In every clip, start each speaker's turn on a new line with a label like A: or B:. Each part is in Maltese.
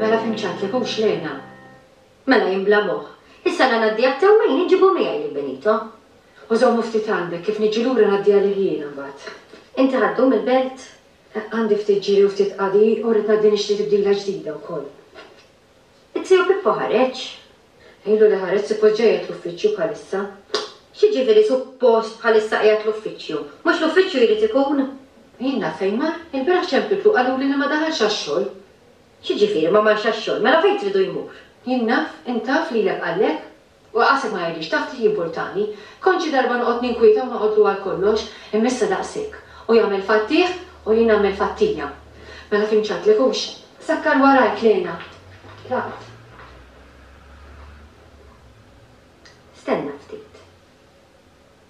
A: Mela fhimt x'għidt lek, hux Lena? Mela jien bla moħħ. Issa la ngħaddi għat-tè u mejn inġibhom miegħi lil Benito. U żommu ftit
B: għandek, kif niġi lura ngħaddi għalih jien imbagħad. Inti ħa ddum
A: il-belt? Għandi ftit
B: ġiri u ftit qadi u rrid ngħaddi nixtri tibdila ġdida wkoll.
A: It-Tiju Pippo ħareġ? Għidlu li
B: ħareġ suppost ġej qiegħed l-uffiċċju bħalissa. X'jiġifieri
A: suppost bħalissa qiegħed l-uffiċċju? Mhux l-uffiċċju jrid ikun? Jien naf fejn
B: mar, ilbieraħ ċempiltlu qaluli li ma daħalx għax-xogħol. X'jiġifieri
A: ma marx għax-xogħol, mela fejn tridu jmur? Jien naf, int
B: taf, lilek qallek? U qasi ma jgħidlix, taf xi jimpurtani? Kont xi darba noqgħod ninkwieta u noqgħodlu għal kollox, imma issa daqs hekk. Hu jagħmel fattih u jien nagħmel fattija. Mela fim x'għidtlek hux? Sakkar warajk, Lena. Tlaqt.
A: Stenna ftit.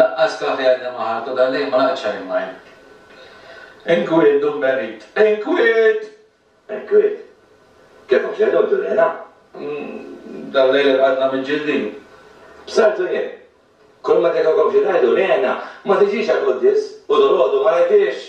C: Laqqas kafè għadni ma ħadt u dal-lejl ma laqgħet xarri mine. Inkwiet, Dun Benit! Inkwiet! Inkwiet?
D: Kif għax illum tulilna?
C: Dal-lejl irqadna miġġildin. B'saltu
D: jien. Kulma tgħidilkom xi tgħidu, li għenna, ma tiġix għall-quddies u dalgħodu ma rajthiex!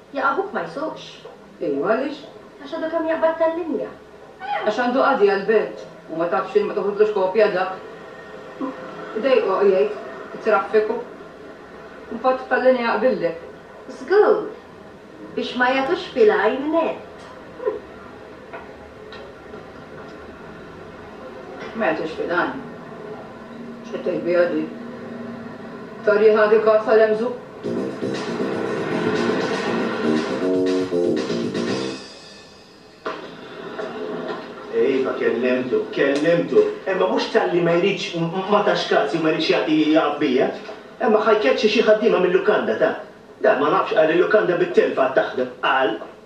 A: Jekk abuk ma jsuqx? Ejwa, għaliex?
B: Għax għadu kemm jaqbad
A: tal-linja. Għax għandu
B: qadi għall-belt. U ma tafx li ma toħodlux kopja dak. Idejqu, jgħid, it-traffiku. U mbagħad tal-linja jaqbillek. Żgur!
A: Biex ma jagħtux fil-għajn nett.
B: Mela tixtieq dan? X'qed tgħid biha di? Torri ħa dik għassa l-emżugħ?
E: Iva kellimtu, kellimtu. Imma mhux talli ma jridx, ma tax kas jew ma jridx jagħti jaqaf bija. Imma ħa jkeċċi xi ħaddiema mil-lukanda ta'. Dan ma nafx qal li l-lukanda bit-telf għad taħdem. Qal.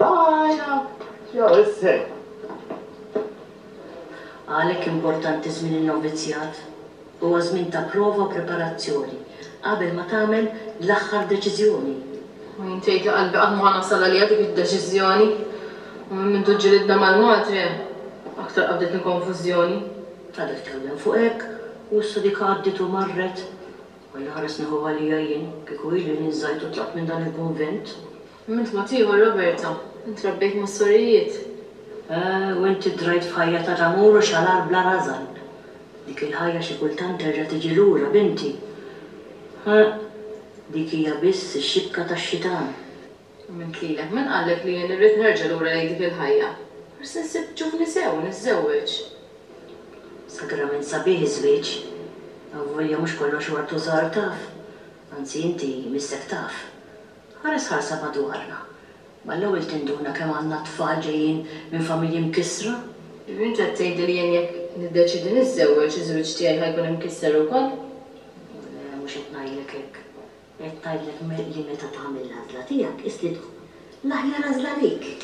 E: Bye! Jew isser.
F: Għalhekk importanti żmien in-novizzjat. Huwa żmien ta' prova u preparazzjoni qabel ma tagħmel l-aħħar deċiżjoni. U jien tgħid
B: li qalbi qatt ma ħa nasal għaliha dik id-deċiżjoni. U minn mindu ġġilidna mal-madre, aktar qabditni konfużjoni. Tali tkellem
F: fuq hekk, u issa dik għaddiet u marret. Alla ħares nieħu għalija jien, kieku ili li nżajt u tlaqt minn dan il-kunvent. Mument mod
B: ieħor Roberta, Int rabbejt mas-sorijiet.
F: U int iddrajt f'ħajja ta' tamur u xalar bla rażan. Dik il-ħajja xi kultant terġa' tiġi lura, binti. Ħa, dik hija biss ix-xibka tax-xitan. Mument
B: lilek, Min qallek li jien irrid nerġa' lura lejn dik il-ħajja? Forsi nsib ġuvni sew u niżżewweġ.
F: Sagrament sabiħ iż-żwieġ. Avolja mhux kollox huwa rtużar, taf. Anzi inti missek taf. Ara sħarsa madwarna. Mal-ewwel tinduna kemm għandna tfal ġejjin minn familji mkissra. Bint qed
B: tgħidli li jien jekk niddeċiedi niżżewweġ, iż-żwieġ tiegħi ħa jkun imkisser ukoll? Le,
F: mhux qed ngħidlek hekk. Qed ngħidlek li meta tagħmel l-għażla tiegħek, qiss li tkun l-aħjar għażla għalik.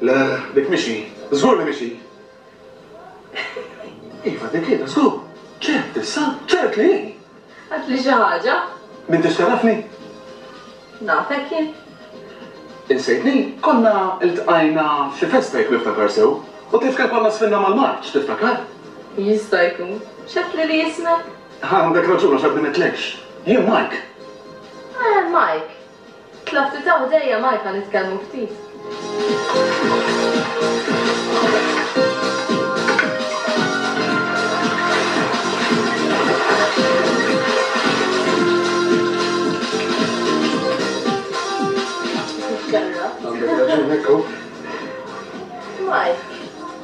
G: Le, dik mhix hi. Żgur li mhix hi! Iva, dik hi, żgur! Ċert issa, ċert li hi! Għidli xi
B: ħaġa! M'intix tagħrafni? Nafek jien. Insejtni?
G: Konna ltqajna f'xi festa jekk niftakar sew, u tifker konna sfinna mal-marċ, tiftakar? Jista'
B: jkun. X'għedt lili ismek? Għandek raġun għax
G: għadni m'għedtlekx. Jien Mike. Eh,
B: Mike. Tlab titgħu ħdejja Malta nitkellmu ftit. Mike,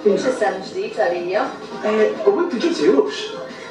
B: mhux is-sena l-ġdid għalija. U inti
G: ġiet Jewx?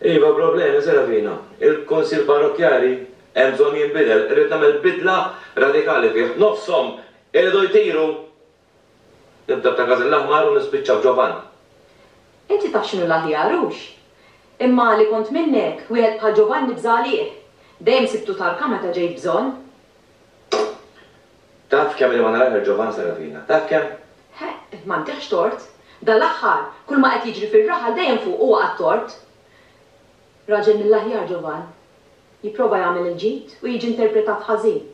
D: Iva, problemi se ravina. Il-Kunsill Parrokkjali hemm bżonn jinbidel. Irrid nagħmel bidla radikali fih. Nofshom iridu jtiru! Nibda b'Ta' Każin l-Aħmar u nispiċċa f'Ġovan. Inti
A: taf x'inhu l-aħjar, hux? Imma li kont minnek, wieħed bħal Ġovanni bża' għalih. Dejjem sibtu tarka meta ġejt bżonn.
D: Taf kemm li ma narah il-ġovan sara fina? Taf kemm? Heq, m'għandekx
A: tort. Dal-aħħar, kull ma qed jiġri fir-raħal dejjem fuq huwa għat-tort. Raġel mill-aħjar, ġovan. Jipprova jagħmel il-ġid u jiġi interpretat ħażin.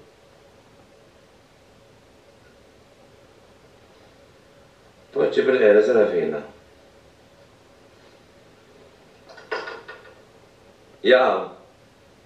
D: Poġġi bil-qiegħda sara fina. Jaqaw.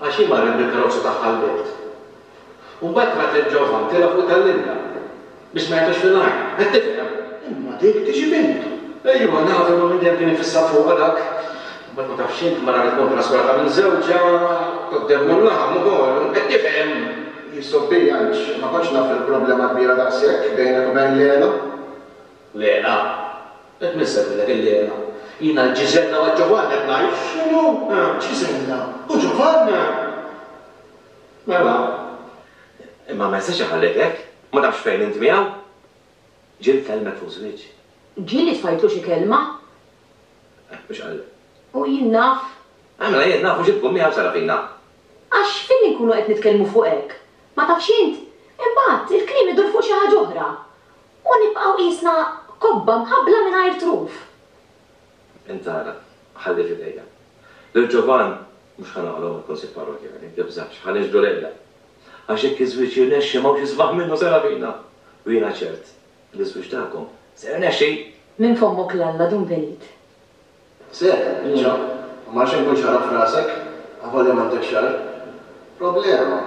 G: Għax hi marret bil-karozza tagħha l-bejt. U mbagħad rat lil Ġovann tela' fuq tal-linja. Biex ma jagħtux fil-għajn. Qed tifhem? Imma dik tiġi bint! Ejwa, naf, imma minn dejjem kien ifissat fuqha dak. Mbagħad ma tafx int, mara li tkun traskurata minn żewġha, tgħoddem mullha, mhu kollu. Qed tifhem? Hi sub-bilanċ. Ma kontx naf li l-problema kbira daqshekk bejnek u bejn Leela. Lena, Qed min semmilek il-Lena? Jiena l-Ġiżella u għall-Ġovanni qed ngħid. X'inhu? Ġiżella u Ġovanni? Mela.
D: Imma ma jistax iħallek hekk. Ma tafx fejn int miegħu? Ġieli tkellmek fuq żwieġ. Ġieli tfajtlu
A: xi kelma? Eh,
D: mhux qal. U jien naf.
A: Eh, mela jien naf u
D: xi tkun miegħu Sarafina? Għax fejn
A: inkunu qed nitkellmu fuq hekk, ma tafx int? Imbagħad, il-kliem idur fuq xi ħaġa oħra. U nibqgħu qisna kobba mħabbla mingħajr truf.
D: Int ara, ħalli f'idejja. Lil Ġovann mhux ħa nagħlgħu mill-Kunsill Parrokkjali, tibżax, ħa nixhdu lejla. Għax jekk iż-żwieġ jirnexxi m'hawnx isbaħ minnu se nagħtina. U jiena ċert li ż-żwieġ tagħkom se jirnexxi! Minn fommok
A: l-Alla dun venit.
G: Ser, inġa, u m'għandx inkun xarab f'rasek, avolja m'għandek xagħar. Problema!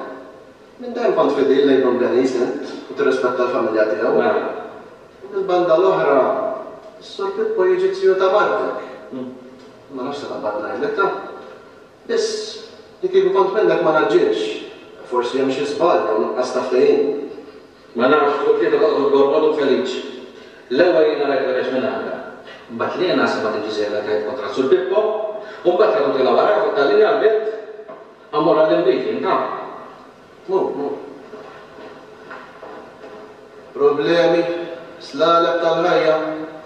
G: Minn dejjem kont fidil lejn Dun Denis int u tirrispetta l-familja tiegħu. Mela. U mill-banda l-oħra, is-Sur Pippo jiġi t-tiju ta' martek. Ma nafx se taqbad ngħidlekha. Biss, li kieku kont minnek ma ngħaġġilx. Forsi hemm xi żball jew nuqqas ta' ftehim. Ma nafx, u t-tlieta toqgħod ukoll, Manu Feliċ. L-ewwel jiena rajt Werex minn għandha. Mbagħad Lena semgħet li Ġiżella tgħid kontra Sur Pippo, u mbagħad ħadu tilgħu wara u Talli qalbet, Ammur għallim bik int, ha. Mur, mur. Problemi, slaleb tal-ħajja.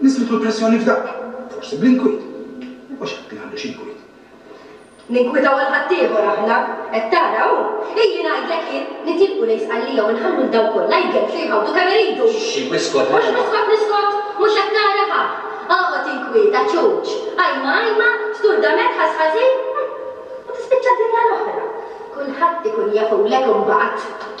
H: Niżlet l-pressjoni f'daqqa, forsi bl-inkwiet. Imma x'għad li għandu x'inkwiet?
F: Ninkwitaw għal ħaddieħor aħna, qed tara hu? Illi ngħidlek jien, nitilqu lejn Sqallija u nħallu 'l dawn kollha jgellfu jħawdu kemm iridu! Xxi, iskot mela!
G: Mhux niskot niskot!
F: Mhux qed tara ha? Oqgħod inkwiet, għaċuċ! Qajma qajma, sturdament ħass ħażin, hm! U tispiċċa d-dinja l-oħra. Kulħadd ikun jafulek imbagħad!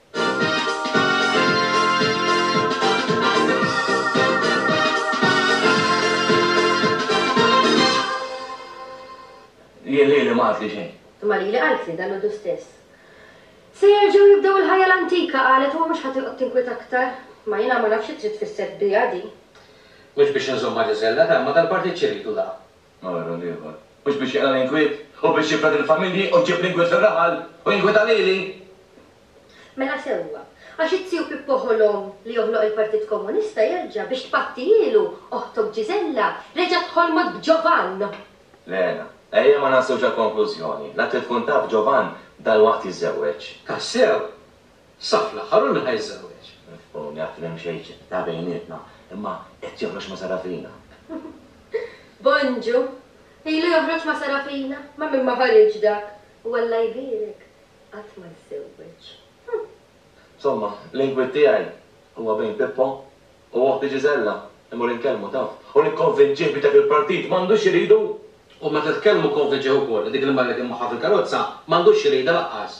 C: Hi lili ma qaltli xejn. Imma lili qaltli,
I: dalgħodu stess. Se jerġgħu jibdew il-ħajja l-antika, qalet, u mhux ħa tinqgħod tinkwieta aktar. Imma jiena ma nafx xi trid tfisser biha din. Mhux biex
C: inżommha Ġeżella, ta' imma dal-partit xi jridu la? Ara l-ieħor.
D: Mhux biex jaqla' l-inkwiet, u biex jifred il-familji, u jġib l-inkwiet fir-raħal, u jinkwieta lili?
I: Mela sewwa. Għax it-tiju Pippo ħolom li joħloq il-Partit Komunista jerġa' biex tpattijielu, oħtok Gisella reġgħet ħolmot b'Ġovann! Lena,
D: ejja ma nasluwx għall-konklużjoni. La trid tkun taf Ġovann dalwaqt jiżżewweġ. Tassew?
C: Sa fl-aħħar hu min ħa jiżżewweġ? Nifhmu li għad m'hemm
D: xejn ta' bejnietna, imma qed joħroġ ma' Sarafina. Bonġu,
I: Ilu joħroġ ma' Sarafina? Ma' min ma ħariġ dak! U Alla jbierek, qatt ma jżżewweġ.
D: Somma, l-inkwiet tiegħi huwa bejn Pippo u oħti Ġiżella. Immur inkellmu, taf, u nikkonvinċih biex dak il-partit m'għandux iridu! U meta tkellmu
C: konvinċih ukoll li dik li marret jien magħha fil-karozza m'għandux iridha lanqas.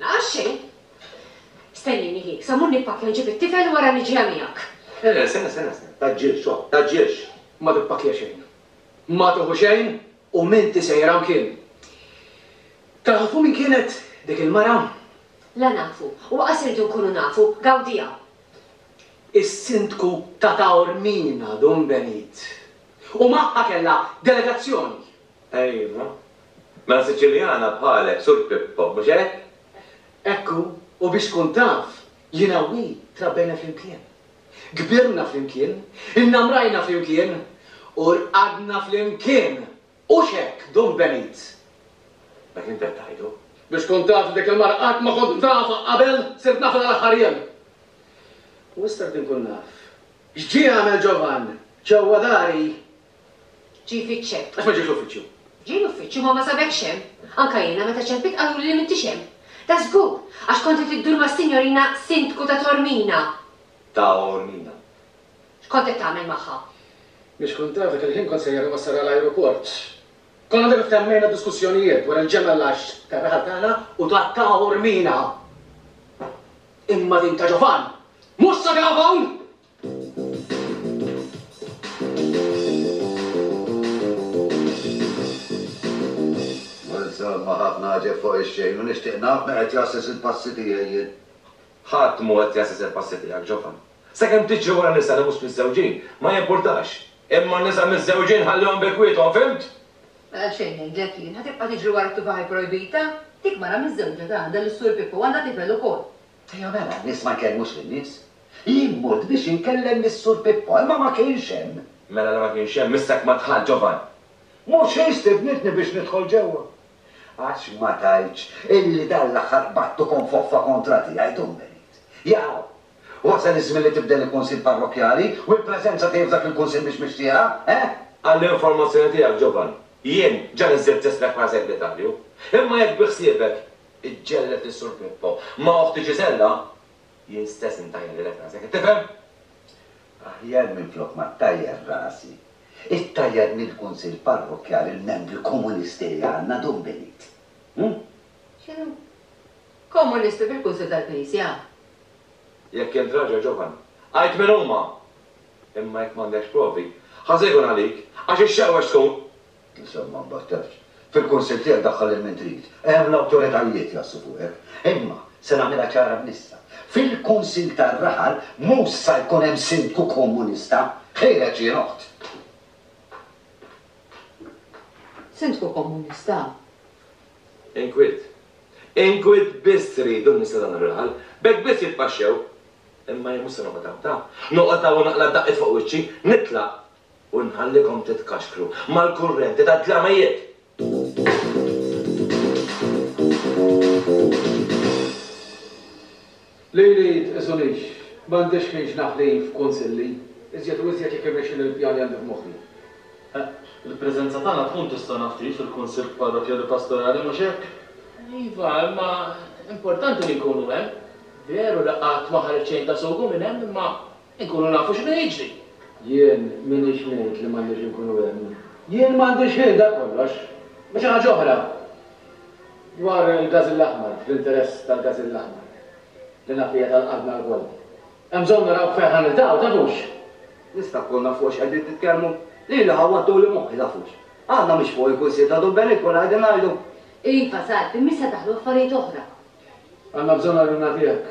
C: Għax
B: xejn. Stennini, hi, sa mmur nippakkja nġib it-tifel u wara niġi ha miegħek. Le, le, stenna, stenna,
D: stenna, tgħaġġilx, ho, tgħaġġilx. Ma tippakkja
C: xejn. Ma tieħu xejn u m'inti sejjer hawn kien. Tafu min kienet dik il-mara? La nafu,
B: u aqqas irridu nkunu nafu, gawdiha.
C: Is-Sindku ta' Taormina, Dun Benit. U magħha kellha delegazzjoni. Ejwa.
D: Mela Siċiljana bħalek, Sur Pippo, mhux hekk? Hekk hu,
C: u biex tkun taf, jiena u hi trabbejna flimkien. Kbirna flimkien, innamrajna flimkien, u rqadna flimkien! Hux hekk, Dun Benit? Dak
D: li int qed tgħidu? Biex tkun taf li dik
C: il-mara qatt ma kont nafha qabel, sirt nafha dal-aħħar jiem. U issa rrid inkun naf, x'ġie għamel Ġovann ġewwa dari? Ġie
B: jfittxek. Għax ma ġiex l-uffiċċju.
C: Ġie l-uffiċċju imma
B: ma sabekx hemm. Anke jiena meta ċempit qaluli li m'intix hemm. Da żgur, għax kont qed iddur mas-Sinjorina Sindku ta' Tormina. Taormina. X'kont qed tagħmel magħha? Mhix kont
C: taf, dak il-ħin kont sejjer inwassal għal ajruport. Kont għadna kif temmejna diskussjonijiet dwar il-ġemgħa l-għaxx tar-raħal tagħna u ta' Taormina. Imma din ta' Ġovan! Mhux sabiha hawn!
J: Insomma, ħafna għaġeb fuq ix-xejn u nixtieq naf min qed jgħassis il-passi tiegħi jien. Ħadd
D: mhu qed jgħassis il-passi tiegħek, Ġofan. Sakemm tiġri wara nisa li mhux miżżewġin, ma jimpurtax. Imma n-nisa miżżewġin ħallihom bi kwiethom, fimt? Mela xejn
A: ngħidlek jien, ħa tibqa' tiġri wara t-tufaħ ipprojbita? Dik mara miżżewġa ta' għandha lis-Sur Pippo u għandha tifel ukoll. Ejja mela, n-nies
J: ma jkellmux lin-nies. Jien mort biex inkellem lis-Sur Pippo, imma ma kienx hemm. Mela la ma kienx hemm,
D: issa jekk ma dħaltx, Ġovan. Mhux hi
E: stidnitni biex nidħol ġewwa. Għax ma
J: tgħidx illi dan l-aħħar qbadt ukoll foffa kontra tiegħi, Dun Benit? Jaaw! Wasal iż-żmien li tibdel il-Kunsill Parrokkjali u l-preżenza tiegħi f'dak il-Kunsill mhix mixtieqa, eh? Għall-informazzjoni
D: tiegħek, Ġovan, jien ġa niżżilt ismek bħala Segretarju. Imma jekk bi ħsiebek, Iġġellet lil Sur Pippo. Ma' oħti Ġiżella? Jien stess intajjarilek rasi, qed tifhem?
J: Aħjar minflok ma ttajjar rasi, ittajjar mill-Kunsill Parrokkjali il-membri Komunisti li għandna, dum binit. Hu? X'inhu?
A: Komunisti fil-Kunsill tal-Knisja?
D: Jekk int raġel ġovan, għid min huma! Imma jekk m'għandekx provi, ħażin ikun għalik, għax ix-xewwex tkun! Insomma, ma
J: nbattax. Fil-Kunsill tiegħek daħħal lil min trid. Hemm l-awtoritajiet jgħassu fuqek. Imma, se nagħmilha ċara minn issa, fil-Kunsill tar-Raħal mhux sa jkun hemm Sindku Komunista, ħireġ jien oħt.
A: Sindku Komunista?
D: Inkwiet. Inkwiet biss tridu n-nies ta' dan ir-raħal. B'hekk biss jitpaxxew. Imma jien mhux se noqgħod hawn, taf. Noqgħod hawn u naqla' d-daqqiet fuq wiċċi. Nitlaq u nħallikom titkaxkru mal-kurrenti tad-dlamijiet!
C: Lili tqisunix, m'għandix ħin x'naħli f'kunsilli, iżjed u iżjed jekk irnexxini l-pjan li għandi f'moħħi.
K: Il-preżenza tagħna tkun tista' naf kif fil-kunsill parrokkjali pastorali, mhux hekk? Iva,
L: imma importanti li nkunu hemm. Veru li qatt ma ħariġt xejn ta' sugu minn hemm, imma Inkunu
C: nafu x'inhu jiġri. Jien m'iniex ngħid li m'għandniex inkunu hemm. Jien m'għandix ħin, dak kollox. Imma xi ħaġa oħra, dwar il-Gażill Aħmar, fl-interess tal-Gażill Aħmar, li naf li hija tal-qalbna lkoll. Hemm bżonn naraw fejn ħa niltaqgħu, tafux? Nista' nkun
E: naf fuq x'qegħdin titkellmu? Lili ħawwadtuli moħħi, tafux? Għadna mhux fuq il-Kunsill ta' Dubbenik u ngħidu ngħidu. Iva, Sal,
B: imma issa daħlu affarijiet oħra. Għandna
C: bżonn għajnuna tiegħek.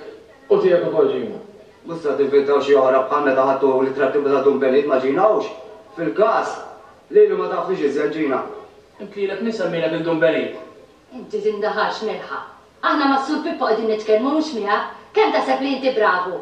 C: U tiegħek ukoll Gina. Mhux se tinventaw
E: xi oħra bħal meta ħadtu l-ittrattiva ta' Dun Benit ma' Gina Hux? Fil-każ li li ma tafnix iżjed Gina. Int lilek min
C: semmielek lil Dun Benit? Inti
B: tindaharx Mirħa. Aħna mas-Sur Pippo qegħdin nitkellmu mhux miegħek. Kemm taħseb li inti bravu?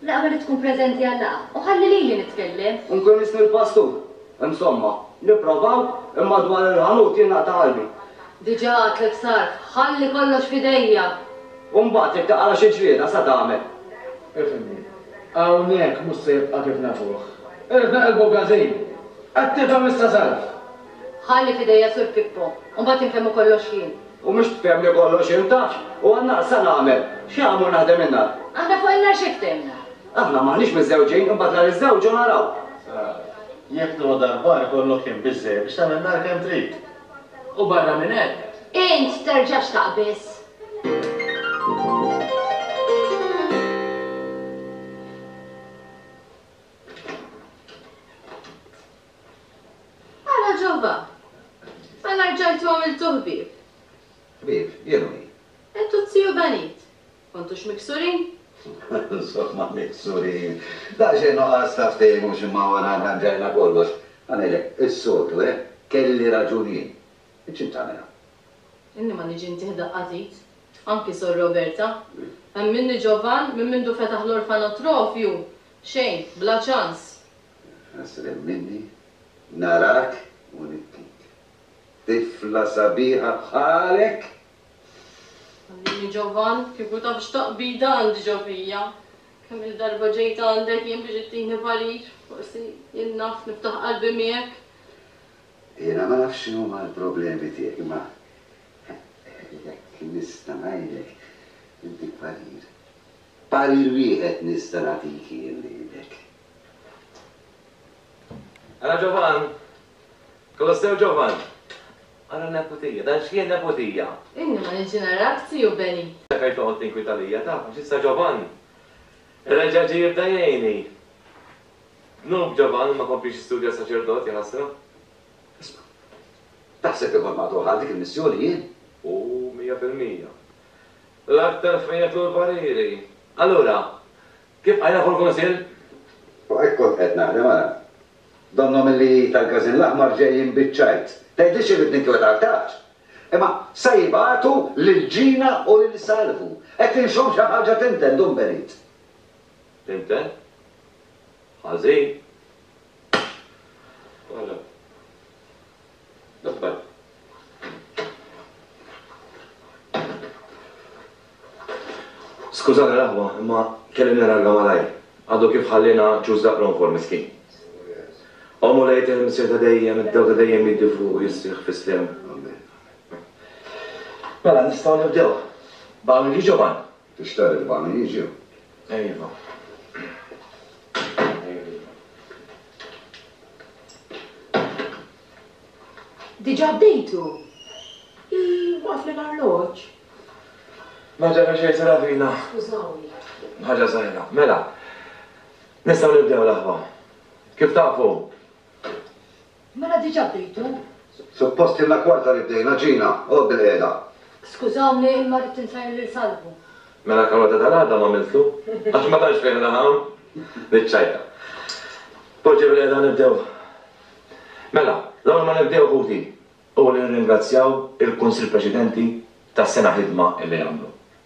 B: L-għaqda li tkun preżenti għal-laqgħa u ħalli lili nitkellem. U nkun isni l-pastur.
E: Insomma, nipprovaw, imma dwar il-ħanut jien naqta' qalbi. Diġà għadtlek
B: sarf, ħalli kollox f'idejja! U mbagħad
E: jekk taqra xi ġlieda se tagħmel?
C: Ifhimni, hawnhekk mhux se jibqa' kif nafuh. Irfna' qalbu b'ħażin. Qed tifhem issa sarf. Ħalli
B: f'idejja Sur Pippo. U mbagħad infhemmu kollox jien. U mhux tfhemni
E: kollox int għax u għan-nar sa nagħmel? Xi għamur naħdem in-nar? Aħna fuq in-nar xi
B: ftehimna? Aħna m'aħniex
E: miżżewġin imbagħad la niżżewġu u naraw. Sara,
K: Jekk tgħodd għall-bar ikollok ħin biżżejjed biex tagħmel nar kemm trid. U barra
C: minn hekk. Int terġax
B: taqbiż. Ara ġewwa! Mela rġajtu għamiltu ħbieb. Ħbieb,
J: jien u min? Int u t-tiju
B: Benit. Kontux miksurin? Insomma,
J: miksurin! Daqsxejn nuqqas ta' ftehim u x'imma wara rranġajna kollox. Ħa ngħidlek, is-soltu, eh? Kelli raġun jien. Int x'int tagħmilha? Inni ma
L: niġi ntih daqqa t'id. Anki Sor Roberta. Hemm minni Ġovann, minn mindu fetaħ l-orfanotrofju, xejn, bla ċans. Ħasrem
J: minni, narak u nibkik. Tifla sabiħa bħalek!
L: Għallini Ġovan, kieku taf x'taqbida għandi ġo fija. Kemm-il darba ġejt għandek jien biex ittini parir, forsi jien naf niftaħ qalbi miegħek.
J: Jiena ma nafx x'inhuma l-problemi tiegħek imma jekk nista' ngħidlek, intik parir. Parir wieħed nista' nagħtik jien lilek.
D: Ara Ġovann! Kolossew Ġovann! Ara n-neputija! Dan x'kien neputija? Inni ma niġi
L: narak, tiju Beni! Għalfejn toqgħod tinkwita
D: lija? Taf għax issa Ġovann reġa' ġie jibda jgħinni. Dnub Ġovann ma kompliex jistudja s-saċerdot, jaħasra. Isma',
J: taħseb li kont maqtugħ għal dik il-missjoni jien? U mija
D: fil-mija. L-aktar fejn jagħtu l-pariri. Allura, Kif qal Aħu l-Kunsill? U hekk
J: kont qed naħdem ara. Donnhom illi tal-Każin l-Aħmar ġejjin biċ-ċajt. Tgħidlix irrid ninkwieta aktarx? Imma sa jibagħtu lil Ġina u lil Salvu. Qed inxomm xi ħaġa tinten, Dun Benit.
D: Tinten? Ħażin? Għala? Skużani l-aħwa, imma kelli nirranġa malajr. Għadu kif ħalliena ċuż daqq l-onfor miskin. Ommu lejt il-Missier ta' dejjem, id-dew ta' dejjem jiddi fuqu jisriħ fi sliem. Mela nistgħu nibdew. Baqa' minn Ġiġovan? Tixtaq li l-bani
J: jiġew? Iva.
A: Diġà bdejtu? Waqaf li l-arloġġ.
D: Ma ġara xejn Seravina. Skużawni.
A: Ħaġa żgħira.
D: Mela, nistgħu nibdew l-aħwa. Kif tafu?
A: Mela diġa bdejtu? Suppost
J: ilna kwarta li bdejna, Gina, oqgħod bilqiegħda. Skużawni
A: imma rrid insajjar lil Salvu. Mela karota
D: tal-għada m'għamiltlu? Għax ma tantx fejn raħam? Niċċajta. Poġġi bilqiegħda nibdew. Mela, l-ewwel ma nibdew ħuti, hu li nirringrazzjaw il-Kunsill Preċedenti tas-sena ħidma illi għamlu.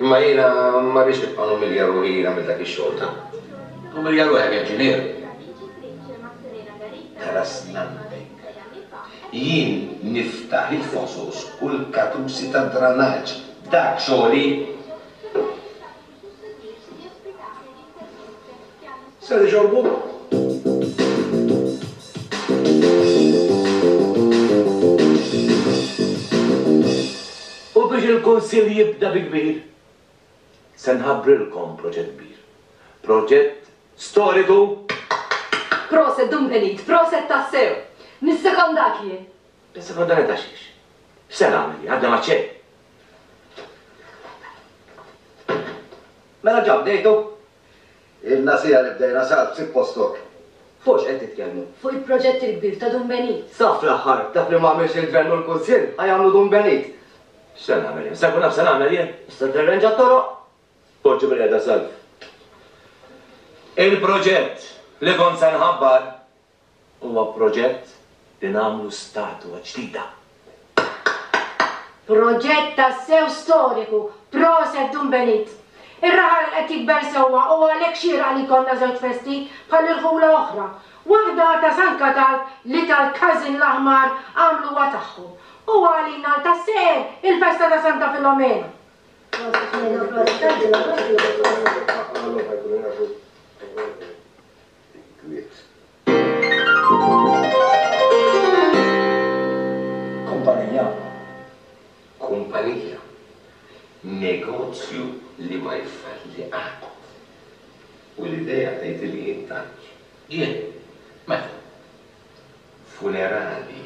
J: Imma jiena ma rridx nibqa' numilja ruħi jien għamilt dak ix-xogħol ta'. Umilja ruħek
M: jekk ġie nieqes.
J: Ħaras nagħmlek. Jien niftaħ il-fosos u l-katusi tad-dranaġġ. Dak xogħli. Ser
D: U biex il-Kunsill jibda bi kbir, se nħabbrilkom proġett kbir. Proġett storiku!
A: Proset Dun Benit, proset tassew! Nissekondak jien! Tissekondanni ta'
D: xiex? X'se nagħmel jien? Għadna ma' xejn!
J: Mela ġa bdejtu? Ilna siegħa li bdejna Salv, sib postok. Fuq x'qed
N: titkellmu? Fuq il-proġett il-kbir
I: ta' Dun Benit. Sa fl-aħħar, dak
N: li ma għamilx il-Gvern u l-Kunsill, ħa jagħmlu Dun Benit. X'se nagħmel
D: jien? Se nkun naf x'se nagħmel jien? Se tirrenġa t-toroq?
N: Poġġi bil-qiegħda
D: Salv. Il-proġett li kont se nħabbar. Huwa proġett li nagħmlu statua ġdida.
O: Proġett tassew storiku! Proset Dun Benit! Ir-raħal qed jikber sewwa u għalhekk xieraq li jkollna żewġ festi bħal irħula oħra. Waħda ta' San Katalb li tal-Każin l-Aħmar għamluha tagħhom u għalina għal tas-seher il-festa ta' Santa Filomena. Proset Mena u proset Angela Rossi u Antonio Licco.
J: Kumpanija, kumpanija, negozju li ma jfalli qatt. U l-idea tgħidilli jien tant. Jien?
M: Meta? Funerali.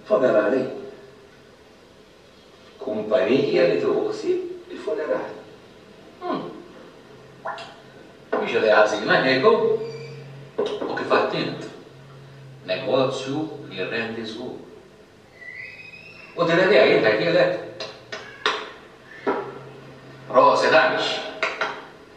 N: Funerali?
J: Kumpanija li tieħu ħsieb il-funerali. Umm.
M: Mhix idea ħażina, Diego. U kif għedt int, negozju li jirrendi żgur. U din idea jien tajthielek. Proset għaliex.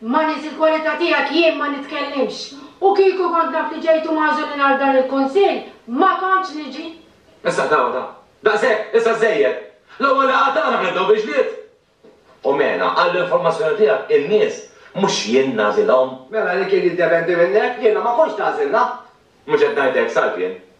I: Ma' nies
O: il-kwalità tiegħek jien ma nitkellimx. U kieku kont naf li ġejtu magħżulin għal dan il-Kunsill, ma kontx niġi. Issa ta' ta'.
D: Daqshekk, issa żżejjed. L-ewwel laqgħa tagħna ħnibdew bil-ġlied. U mela, għall-informazzjoni tiegħek, in-nies mhux jien nagħżilhom. Mela li kien jiddependi
N: minnek, jiena ma kontx tagħżilna. Mhux qed ngħid
D: hekk, Salvien.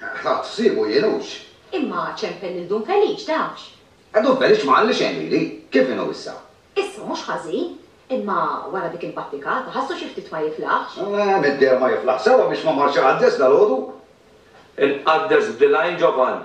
J: Ħadt ħsiebu jien hux. Imma ċempel
A: lil Dun Feliċ, tafx. Dun Feliċ ma
J: qalli xejn lili. Kif inhu issa? Issa mhux ħażin.
A: Imma wara dik il-battikata, ħassu xi ftit ma jiflaħx. Middieru ma jiflaħx
J: sewwa biex ma mar xi qaddes dalgħodu. Inqaddes
D: b'dilgħajn Ġovann,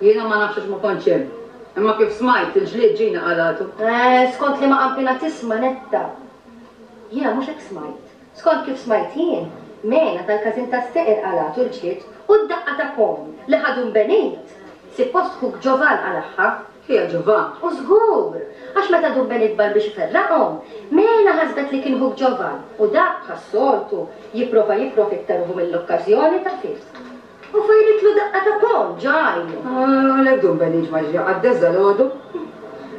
A: Jiena ma nafx għax ma kontx hemm. Imma kif smajt, il-ġlied Ġina qalgħatu. Skont liema
I: qampina tisma' Netta? Jiena mhux hekk smajt. Skont kif smajt jien, Mena tal-każin tas-seqer qalgħatu l-ġlied u d-daqqa ta' ponn li ħadu Mbenit, sippost ħuk Ġovan qalagħha. Ħija Ġovan.
A: U żgur!
I: Għax meta du Mbenit bar biex iferraqhom, Mena ħasbet li kien ħuk Ġovan u dak, bħas-soltu, jipprova jipprofitta ruħu mill-okkażjoni ta' fisq. U fajritlu daqqa ta' ponn ġo għajnu. Għalhekk dun Beniġ
A: ma ġie qaddess dalgħodu.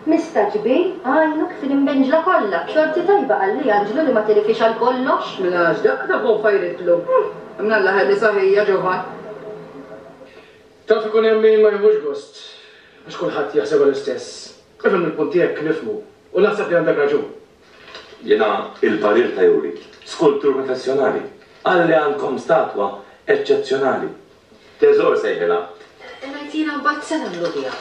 A: Mista
I: kbir għajnu kif l-imbenġla kollha, b'xorti tajba qal li Anġlu li ma tirifhiex għal kollox. Mela x'daqqa ta' ponn
A: fajritlu? Mnalla ħelli saħija, ġovan.
C: Taf ikun hemm min ma jieħux gost għax kulħadd jaħsebha l-istess. Ifhem il-punt tiegħek nifhmu u naħseb li għandek raġun. Jiena
D: il-parir ta' Yuri, skultur professjonali, qal li għandkom statwa eċċezzjonali. Teżor sejħilha. Ngħid jiena
B: mbagħad se nagħmlu biha?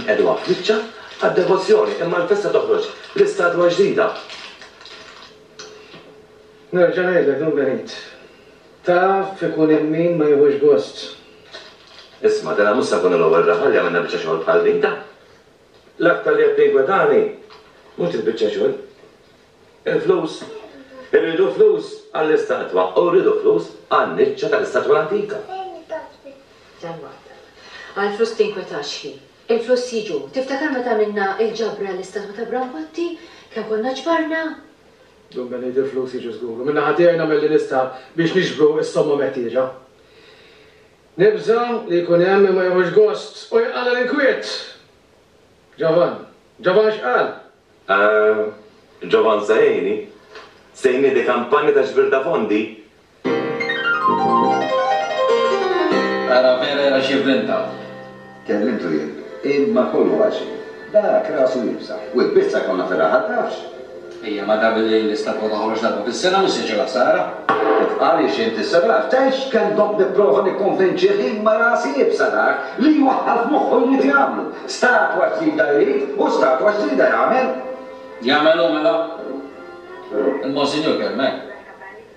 B: Nqiegħdu
D: għall-kniċċa għad-devozzjoni imma l-festa toħroġ bl-istatwa ġdida.
C: Nerġa' ngħidlek Dun Benit, taf ikun hemm min ma jieħux gost.
D: Isma' dana mhux se nkunu l-ewwel raħal li għamilna biċċa xogħol bħal din, ta? L-aktar li qed ninkwa tani mhux il-biċċa xogħol. Il-flus. Irridu flus għall-istatwa u rridu flus għan-niċċa tal-istatwa l-antika. Dalmata.
B: Għall-flus tinkwetax hi. Il-flus jiġu. Tiftakar meta għamilna l-ġabra għall-istatwa ta' Brankotti? Kemm konna ġbarna? Dun
C: Benejt Il-flus jiġu żgur u min-naħa tiegħi nagħmel li nista' biex niġbru s-somma meħtieġa. Nibża' li jkun hemm min ma jieħux gost u jqala' l-inkwiet. Ġovann. Ġovann x'qal?
D: Ġovann Sejni, Sejni di kampanja ta' ġbir ta' fondi.
M: Era vera era xi vvinta.
J: Kellimtu jien. Imma kollu għal xejn. Dak rasu iebsa. U l-pizza konna fir-raħal tafx?
M: Ejja, ma dam li l-istampur toħroġ darba fis-sena mhux se jġibha ħsara. Kif qal hi xi
J: intisserat. Tgħix kemm domt nipprova nikkonvinċih imma rasi iebsa dak li jwaħħal f'moħħu jrid jagħmlu. Statwa ġdida jrid u statwa ġdida jagħmel. Jagħmel hu
M: mela? Il-Monsinjur kemm hekk.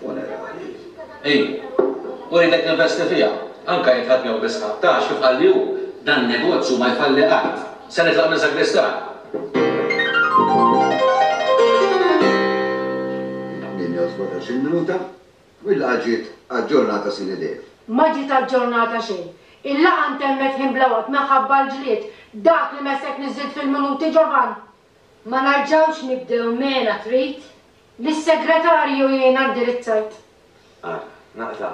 J: funerarie. Hi,
M: u rritek tinvesti fiha, anke jekk ħadd jew biss ħadd, għax, kif qalli hu, dan negozju ma jfalli qatt. Se nitlaq minn
J: sagristan. Ma ġiet
O: aġġornata xejn. Il-laqgħa ntemmet ħin bla waqt minħabba l-ġlied. Dak li messek niżżilt fil-minuti, Ġovann? Ma
I: narġawx nibdew mela trid li s-segretarju
O: jgħinak dirizzajt. Ara,
D: naqta'.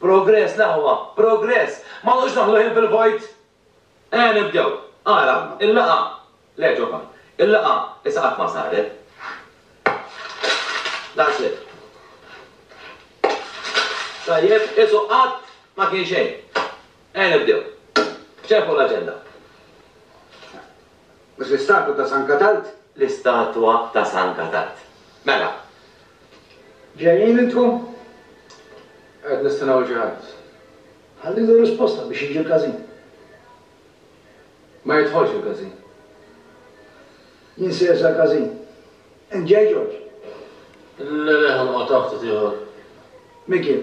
D: Progress l-aħwa, progress! Ma noqgħodux naħlu ħin fil-vojt! Ejja nibdew. Ara, il-laqgħa. Le, ġofa. Il-laqgħa issa qatt ma saret. That's it. Tajjeb, qisu qatt ma kien xejn. Ejja nibdew. B'xejn fuq l-aġenda.
J: Mhux l-istatwa ta' San Katald? L-istatwa
D: ta' San Katald. Mela.
H: Ġejjin intkom?
C: Qed nistennew 'l xi ħadd. Ħallilu
H: r-risposta biex jiġi l-każin.
C: Ma jidħolx il-każin.
H: Jien
K: sejjer sal-każin.
H: Int
K: ġej, Ġorġ? Le, le, ħa noqgħod
H: hawn ftit ieħor. Mikiel,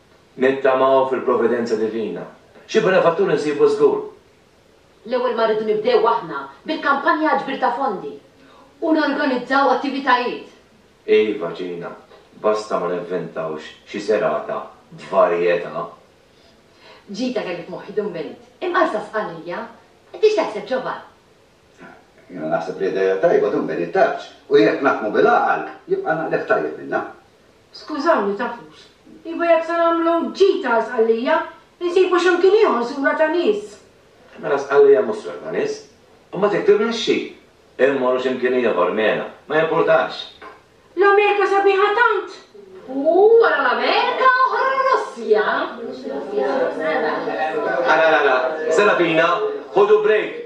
D: Nittamaw fil-providenza divina. Xi benefattur insibu żgur. L-ewwel
A: ma rridu nibdew aħna bil-kampanja għall-ġbir ta' fondi u norganizzaw
B: attivitajiet. Iva,
D: Ġina, basta ma nivventawx xi serata b'varjetà.
A: Ġita kelli f'moħħi Dun Benit, imqarsa Sqallija. Int x'taħseb, Ġovan?
J: Jiena naħseb li ideja tajba, Dun Benit, tafx, u jekk naħdmu bil-għaqal, jibqa' naqliegħ tajjeb minnha. Skużawni,
O: tafux, iva jekk se nagħmlu ġita Sqallija, insibu x'imkien ieħor sura ta' nies. Mela Sqallija
D: mhux sura ta' nies. U ma tiktiblex xi. Immorru x'imkien ieħor, Mena. Ma jimpurtax. L-Amerika
O: sabiħa tant! U wara
A: l-Amerika oħra r-Russja. Ara,
D: ara, ara, Serafina, ħudu break!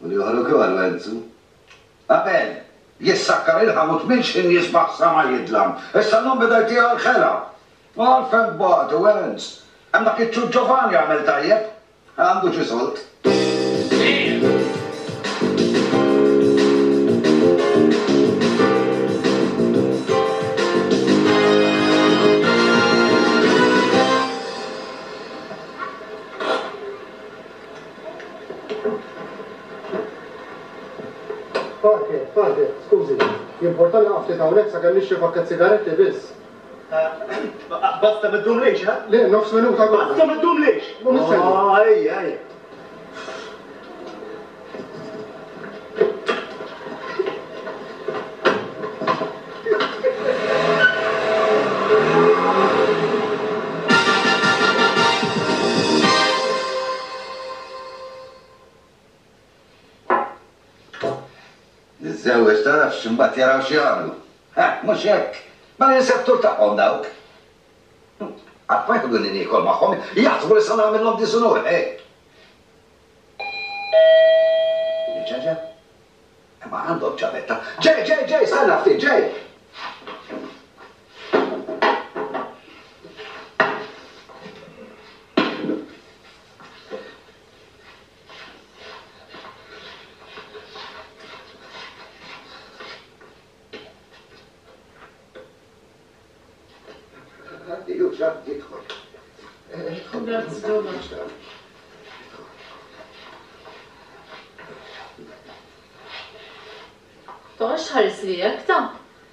J: U l-ieħor ukoll wegħdżu. Abel, jissakkar il-ħam u tmil xi nies baħ sama jidlam. Issa llum beda jtieha l-ħela. U għalfejn tbagħtu, Ernst? Hemm dak iċ-ċuċ Giovanni għamel tajjeb. Għandu xi sold.
N: Parker, Parker, skużi. Jimporta nieqaf ftit hawnhekk sakemm nixtri pakkett sigaretti biss. Basta
E: ma ddumlix, ha? Le, nofs minuta kollha.
N: Basta ma ddumlix!
E: Ejja, ejja.
J: Niżżewweġ tarafx imbagħad jaraw x'jagħmlu. Mhux hekk! Mela jinsab tul tagħhom dawk. Qatt ma jħodduni niekol magħhom, jaħsbu li se nagħmilhom diżunur, ħe! Ġeġe? Imma għandhom ċavetta. Ġej, ġej, ġej, stenna ftit, ġej!
L: Toqgħodx tħarisli hekk, ta!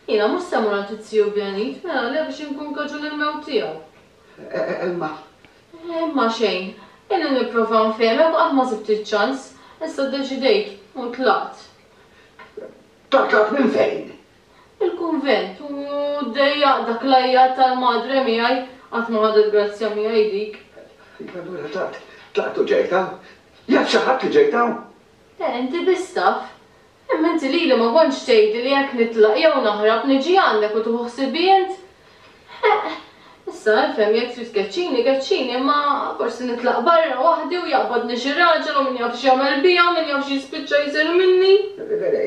L: Jiena mhux se mmur għand it-Tiju Bjanit, mela le biex inkun kaġun il-mewt tiegħu. Imma. Imma xejn. Ilni nipprova nfehmek u qatt ma sibt iċ-ċans. Issa ddeċidejt u tlaqt.
J: Tlaqt minn fejn? Il-kunvent
L: u ddejjaq dak l-għajjat tal-madre miegħi, qatt ma ħadet grazzja miegħi dik. Int allura tlaqt,
J: tlaqt u ġejt
L: hawn?
J: Jaf xi ħadd li ġejt hawn? Le,
L: inti biss
J: taf.
L: Imma inti lili ma kontx tgħidli li jekk nitlaq jew naħrab niġi għandek u tieħu ħsibi int? Ħeqq! Issa, ifhem, jekk trid tkeċċini, keċċini, imma forsi nitlaq barra waħdi u jaqbadni xi raġel u min jaf x'jagħmel bija u min jaf x'jispiċċa jsir minni!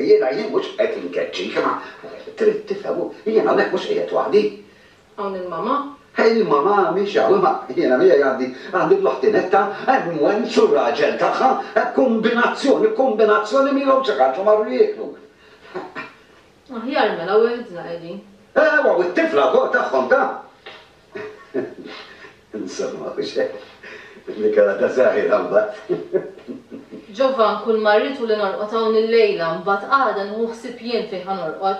L: Jiena, jien
J: mhux qed inkeċċik, imma trid tifhem, jien hawnhekk mhux qiegħed waħdi. Hawn il-mama.
L: Il-mama
J: mhix hawn, imma jiena miegħi għandi, għandi bl-oħti Netta, hemm Wenz u r-raġel tagħha, kombinazzjoni, kombinazzjoni milhom xi ħaġa, marru jieklu.
L: Aħjar mela weħdna qegħdin. Ewwa, u t-tifla
J: wkoll tagħhom ta! Insomma, u x'hekk li kellha ta' żgħira mbagħad. Ġovan,
L: kull ma rrid hu li norqod hawn illejla, mbagħad għada nieħu ħsieb jien fejn ħa norqod.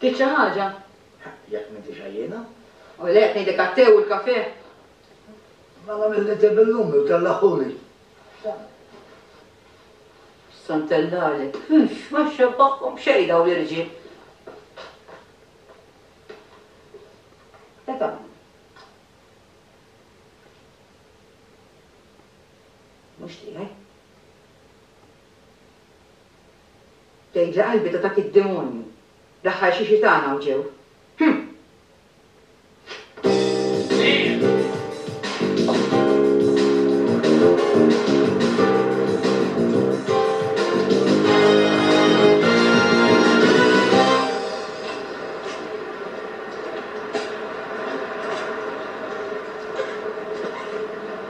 A: Trid xi ħaġa? Jekk m'intix
E: għajjiena. O le, qed ngħidlek
A: għat-te u l-kafè.
E: Ma nagħmel li te bil-lumi u tellaħħuli.
A: Sa ntellagħlek. Ix, ma xxebbahhom b'xejn dawn l-irġiel. Qed hawn. Mhux tiegħi. Tgħidli qalbi ta' dak id-demonju, l-aħħar xi xitana u ġew. Hm!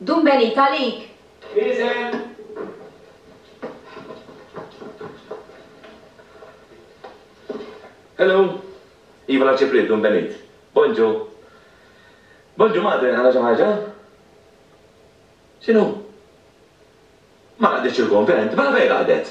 A: Dum benita għalik.
D: Iżen. Hello. Iva la ċipriet dum benit. Bonġu. Bonġu madre għandha xi ħaġa? X'inhu? Ma raqditx il-kunvent? Mela fejn raqdet?